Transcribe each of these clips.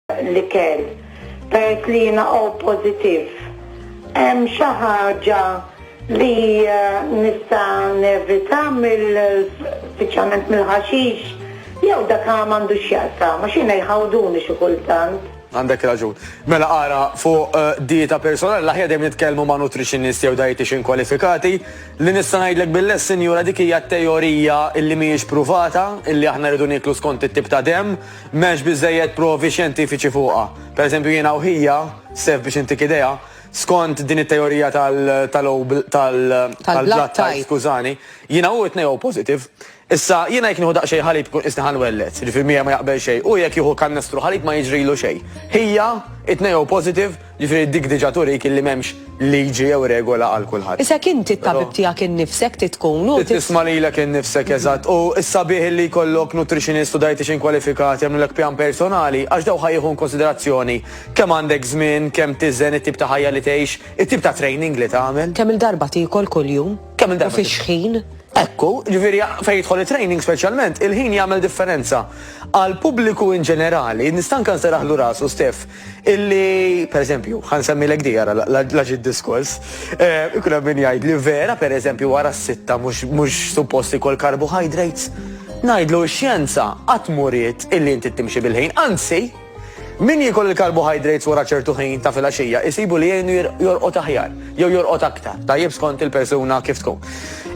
l-ikel peress li jiena O pożittiv. Hemm xi ħaġa li eh, nista' nevita mill speċjalment mill-ħaxix jew dak m'għandux x'jaqsa, ma xina jħawduni xi kultant. Għandek raġun. Mela ara fuq eh, dieta personali l-aħjar dejjem nitkellmu ma' nutritionist jew dietitian kwalifikati li nista' ngħidlek bil-les sinjura dik hija teorija illi mhijiex pruvata illi aħna rridu niklu skont it-tip ta' dem M'hemmx biżżejjed provi xjentifiċi fuqha. Pereżempju, jiena u ħija, Steph biex intik idea, skont din it-teorija tal-O tal-blood type, skużani, jiena u hu t-tnejn O positive. Issa, jiena jekk nieħu daqsxejn ħalib ikun qisni ħa nwelled, jiġifieri miegħi ma jaqbel xejn. Hu jekk jieħu kannestru ħalib ma jiġrilu xejn. Ħija, it-tnejn O positive. Jiġifieri dik diġà turik illi m'hemmx liġi jew regola għal kulħadd. Isek inti t-tabib tiegħek innifsek trid tkun u. Trid tisma' lilek innifsek eżatt u s-sabiħ illi jkollok nutritionist u dietician kwalifikat jagħmlulek pjan personali għax dawk ħa jieħu inkunsiderazzjoni kemm għandek żmien, kemm tiżen, it-tip ta' ħajja li tgħix, it-tip ta' training li tagħmel. Kemm-il darba tiekol kuljum? Kemm-il darba. U fi x'ħin? Ekku, jiġifieri fejn jidħol it-training speċjalment, il-ħin jagħmel differenza. Għall-pubbliku in ġenerali, nista' anke nseraħlu rasu Steff, Illi, per eżempju, ħan semmilek di għara laġi diskors, eh, ikun hemm min jgħid li vera, per eżempju, wara s-sitta mhux suppost ikol carbohydrates. Ngħidlu x-xjenza qatt muriet illi inti timxi bil-ħin, anzi, Min jikol il-karbohydrates wara ċertu ħin ta' filgħaxija jisibu li jgħinu jorqot aħjar, jew jorqot aktar, tajjeb skont il-persuna kif tkun.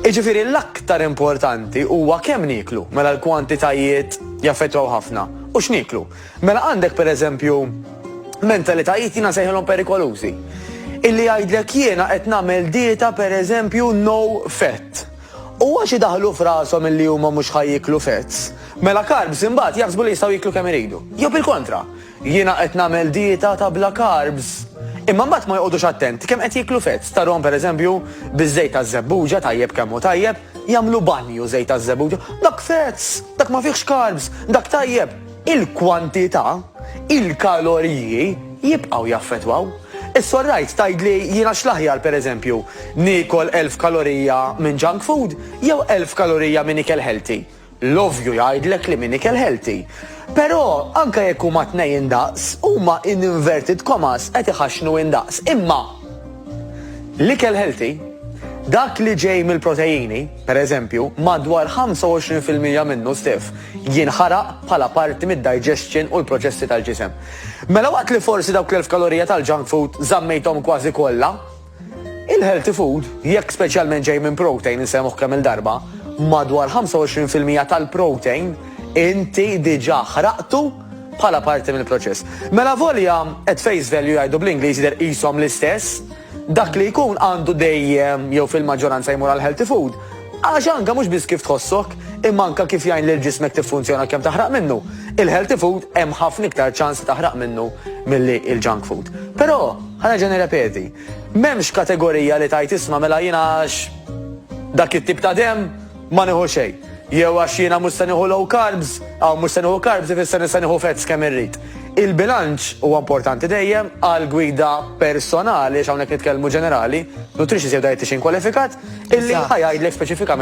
Iġifiri l-aktar importanti huwa kemm niklu, mela l-kwantitajiet jaffettwaw ħafna, u x'niklu. Mela għandek pereżempju mentalitajiet jiena nsejħilhom perikolużi. Illi jgħidlek jiena qed nagħmel dieta pereżempju no fat. U għax idaħħlu f'rashom illi huma mhux ħa jieklu fats, mela carbs imbagħad jaħsbu li jistgħu jieklu kemm iridu. Jew bil-kontra, jiena qed nagħmel dieta ta' bla carbs. Imma mbagħad ma joqgħodux attent kemm qed jieklu fats. Tarahom pereżempju biż-żejt taż-żebbuġa tajjeb kemm hu tajjeb, jagħmlu banju żejt taż-żebbuġa. Dak fats, dak ma fihx carbs, dak tajjeb. Il-kwantità, il-kaloriji, jibqgħu jaffettwaw. Issa orrajt, tgħidli jiena x'l-aħjar, pereżempju, niekol elf kalorija minn junk food jew elf kalorija minn ikel healthy? L-ovvju jgħidlek li minn ikel healthy. Però, anke jekk huma t-tnejn indaqs, huma in inverted commas qed iħaxxnu indaqs. Imma. L-ikel healthy, dak li ġej mill-proteini, pereżempju, madwar 25 fil-mija minnu stess jinħaraq bħala parti mid-digestion u l-proċessi tal-ġisem. Mela waqt li forsi dawk l-elf kalorija tal-junk food żammejthom kważi kollha, il-healthy food, jekk speċjalment ġej minn protein, insemmuh kemm il-darba, madwar 25 fil-mija tal-protein inti diġà ħraqtu bħala parti mill-proċess. Mela volja at face value jgħidu bl-Ingliż jidher qishom l-istess, dak li jkun għandu dejjem jew fil-maġġoranza jmur għal healthy food. Għax anka mhux biss kif tħossok, imma anka kif jgħin lil ġismek tiffunzjona kemm taħraq minnu. Il-healthy food hemm ħafna iktar ċans taħraq minnu milli il-junk food. Però, ħanerġa' nirrepeti, m'hemmx kategorija li tajt isma' mela jiena għax dak it-tip ta' dem Ma nieħu xejn. Jew għax jiena mhux se nieħu low carbs, hawn mhux se nieħu carbs ifisser li se nieħu fats kemm irrid. Il-bilanċ huwa importanti dejjem għal gwida personali għax hawnhekk nitkellmu ġenerali, nutritionist jew dietician kwalifikat, illi ħa jgħidlek speċifikament.